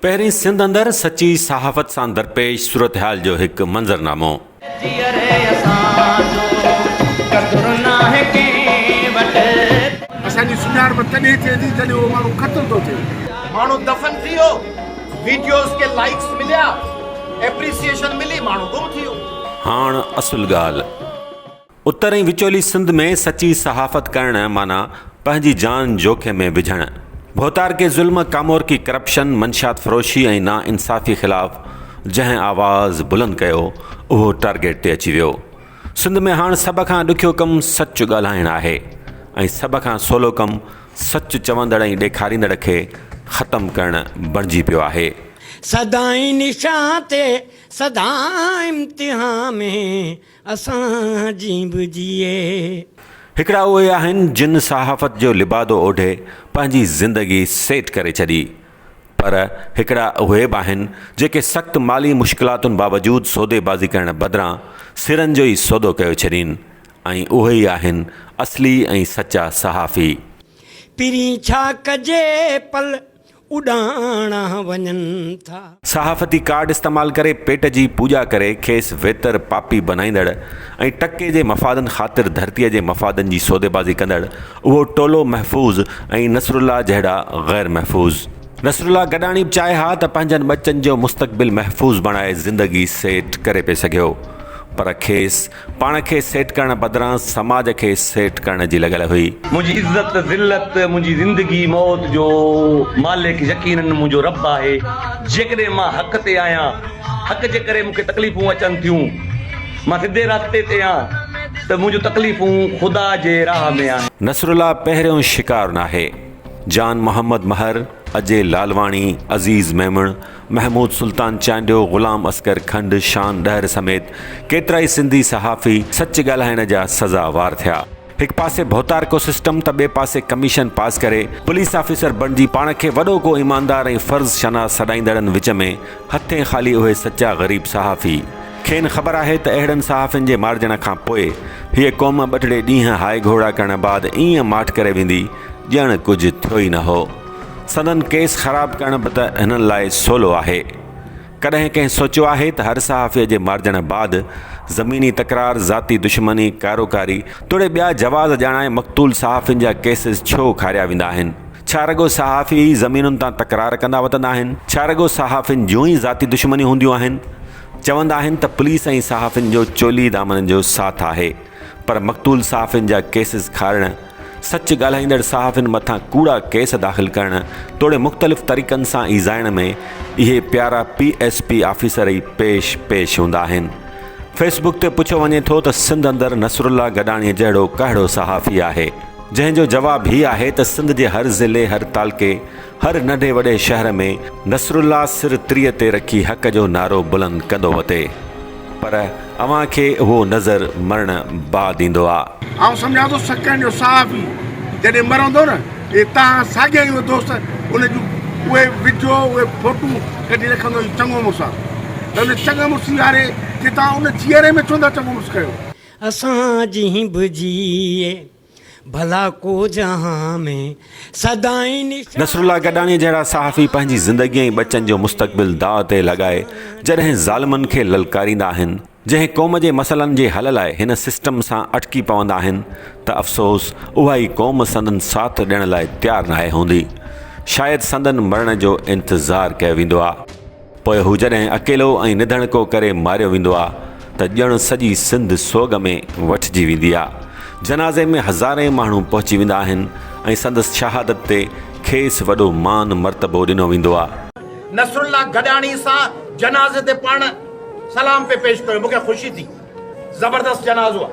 پهرين سنڌ اندر سچي صحافت سان درپيش صورتحال جو هڪ منظرنامو. اسان جي سڃاڻپ تڏهن ٿئي ٿي جڏهن اهو ماڻهو قتل ٿو ٿئي. ماڻهو دفن ٿي ويو ويڊيوز کي لائيڪس مليا ايپريسيئيشن ملي ماڻهو گم ٿي ويو. هاڻ اصل ڳالهه. اتر ۽ وچولي سنڌ ۾ سچي صحافت ڪرڻ معنيٰ پنهنجي جان جوکي ۾ وجهڻ. ڀوتارڪي ظلم، ڪامورڪي ڪرپشن، منشيات فروشي ۽ نا انصافي خلاف جنهن آواز بلند ڪيو اهو ٽارگيٽ تي اچي ويو. سنڌ ۾ هاڻ سڀ کان ڏکيو ڪم سچ ڳالهائڻ آهي ۽ سڀ کان سولو ڪم سچ چوندڙ ۽ ڏيکاريندڙ کي ختم ڪرڻ بڻجي پيو آهي. سدائين نشان تي سدائين امتحان ۾. اسان جي به جيئي. هڪڙا اهي آهن جن صحافت جو لبادو اوڍي پنهنجي زندگي سيٽ ڪري ڇڏي پر هڪڙا اهي به آهن جيڪي سخت مالي مشڪلاتن باوجود سوديبازي ڪرڻ بدران سرن جو ئي سودو ڪيو ڇڏين ۽ اهي ئي آهن اصلي ۽ سچا صحافي. پھرين ڇا ڪجي پل اڏاڻا وڃن ٿا. صحافتي ڪارڊ استعمال ڪري پيٽ جي پوڄا ڪري کيس ويتر پاپي بنائيندڙ ۽ ٽڪي جي مفادن خاطر ڌرتي جي مفادن جي سوديبازي ڪندڙ اهو ٽولو محفوظ ۽ نصرالله جهڙا غير محفوظ. نصرالله گڏاڻي به چاهي ها ته پنهنجن ٻچن جو مستقبل محفوظ بڻائي زندگي سيٽ ڪري پئي سگهيو پر کيس پاڻ کي سيٽ ڪرڻ بدران سماج کي سيٽ ڪرڻ جي لڳل هئي. منهنجي عزت ته ذلت، منهنجي زندگي موت جو مالڪ يقيناً منهنجو رب آهي. جيڪڏهن مان حق تي آهيان، حق جي ڪري مون کي تڪليفون اچن ٿيون، مان سڌي رستي تي آهيان ته منهنجون تڪليفون خدا جي راهه ۾ آهن. نصرالله پهريون شڪار ناهي. جان محمد مهر، اجي لالواڻي، عزيز ميمڻ، محمود سلطان چانڊيو، غلام اصغر کنڊ، شان ڏهر سميت ڪيترائي سنڌي صحافي سچ ڳالهائڻ جا سزا وار ٿيا. هڪ پاسي ڀوتارڪو سسٽم ته ٻئي پاسي ڪميشن پاس ڪري پوليس آفيسر بڻجي پاڻ کي وڏو ڪو ايماندار ۽ فرض شناس سڏائيندڙن وچ ۾ هٿين خالي اهي سچا غريب صحافي. کين خبر آهي ته اهڙن صحافين جي مارجڻ کان پوء هيء قوم ٻه ٽڙي ڏينهن هائي گهوڙا ڪرڻ بعد ايئن ماٺ ڪري ويندي ڄڻ ڪجهه ٿيو ئي نه هو. سندن ڪيس خراب ڪرڻ به ته هنن لاء سولو آهي. ڪڏهن ڪنهن سوچيو آهي ته هر صحافي جي مارجڻ بعد زميني تڪرار، ذاتي دشمني، ڪاروڪاري توڙي ٻيا جواز ڄاڻائي مقتول صحافين جا ڪيسز ڇو کاريا ويندا آهن؟ ڇا رڳو صحافي ئي زمينن تان تڪرار ڪندا وتندا آهن؟ ڇا رڳو صحافين جون ئي ذاتي دشمنيون هونديون آهن؟ چوندا آهن ته پوليس ۽ صحافين جو چولي دامن جو ساٿ آهي پر مقتول صحافين جا ڪيسز کارڻ سچ ڳالهائيندڙ صحافين مٿان ڪوڙا ڪيس داخل ڪرڻ توڙي مختلف طريقن سان ايذائڻ ۾ اهي پيارا پي ايس پي آفيسر ئي پيش پيش هوندا آهن. فيس بڪ تي پڇيو وڃي ٿو ته سنڌ اندر نصرالله گڏاڻي جهڙو ڪهڙو صحافي آهي؟ جنهن جو جواب هي آهي ته سنڌ جي هر ضلعي هر تعلقي هر ننڍي وڏي شهر ۾ نصرالله سر تريء تي رکي حق جو نعرو بلند ڪندو وتي پر اوهان کي اهو نظر مرڻ بعد ايندو آ. آئون سمجهان ٿو سکن جو صحافي جڏهن مرندو نه اهي توهان ساڳيا ئي اهي دوست ان جون اهي وڊيو اهي فوٽون ڪڍي رکندو هي چڱو مڙس آ ته ان چڱ مڙسي واري کي توهان ان جيئري ۾ ڇو نه ٿا چڱو مڙس ڪيو. اسان جي به جيئي. ڀلا ڪو جهان ۾ سدائين نشان. نصرالله گڏاڻي جهڙا صحافي پنهنجي زندگي ۽ ٻچن جو مستقبل داء تي لڳائي جڏهن ظالمن کي للڪاريندا آهن، جنهن قوم جي مسئلن جي حل لاء هن سسٽم سان اٽڪي پوندا آهن ته افسوس اها ئي قوم سندن ساٿ ڏيڻ لاء تيار ناهي هوندي. شايد سندن مرڻ جو انتظار ڪيو ويندو آ. پوء هو جڏهن اڪيلو ۽ نڌڻڪو ڪري ماريو ويندو آ ته ڄڻ سڄي سنڌ سوڳ ۾ وٺجي ويندي آ. جنازي ۾ هزارين ماڻهو پهچي ويندا آهن ۽ سندس شهادت تي کيس وڏو مان مرتبو ڏنو ويندو آ. نصرالله گڏاڻي سان جنازي تي پاڻ سلام پئي پيش ڪيو، مون کي خوشي ٿي. زبردست جنازو آ.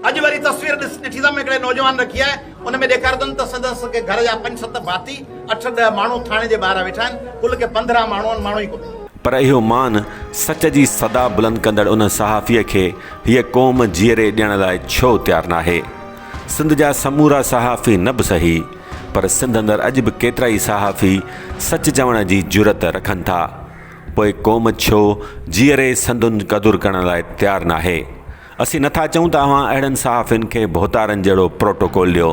اڄ وري تصوير ڏس ڏٺيسم هڪڙي نوجوان رکي آهي ان ۾ ڏيکاريندم ته سندس ڪي گهر جا پنج ست ڀاتي، اٺ ڏهه ماڻهو ٿاڻي جي ٻاهران ويٺا آهن. ڪل ڪي پندرهن ماڻهو آهن، ماڻهو ئي ڪونه. پر اهو مان سچ جي صدا بلند ڪندڙ ان صحافيء کي هيء قوم جيئري ڏيڻ لاء ڇو تيار ناهي؟ سنڌ جا سمورا صحافي نه به صحيح، پر سنڌ اندر اڄ به ڪيترائي صحافي سچ چوڻ جي جرئت رکن ٿا. پوء قوم ڇو جيئري سندن قدر ڪرڻ لاء تيار ناهي؟ اسين نٿا چئون ته اوهان اهڙن صحافين کي ڀوتارن جهڙو پروٽوڪول ڏيو.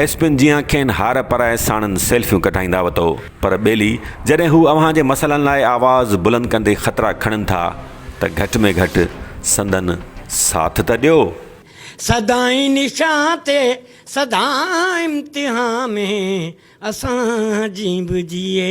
ايس پين جيان کين هار پرائي ساڻن سيلفيون ڪڍائيندا وتو. پر ٻيلي جڏهن هو اوهان جي مسئلن لاء آواز بلند ڪندي خطرا کڻن ٿا ته گهٽ ۾ گهٽ سندن ساٿ ته ڏيو. سدائين نشان تي سدا امتحان ۾ اسان جي به جيئي.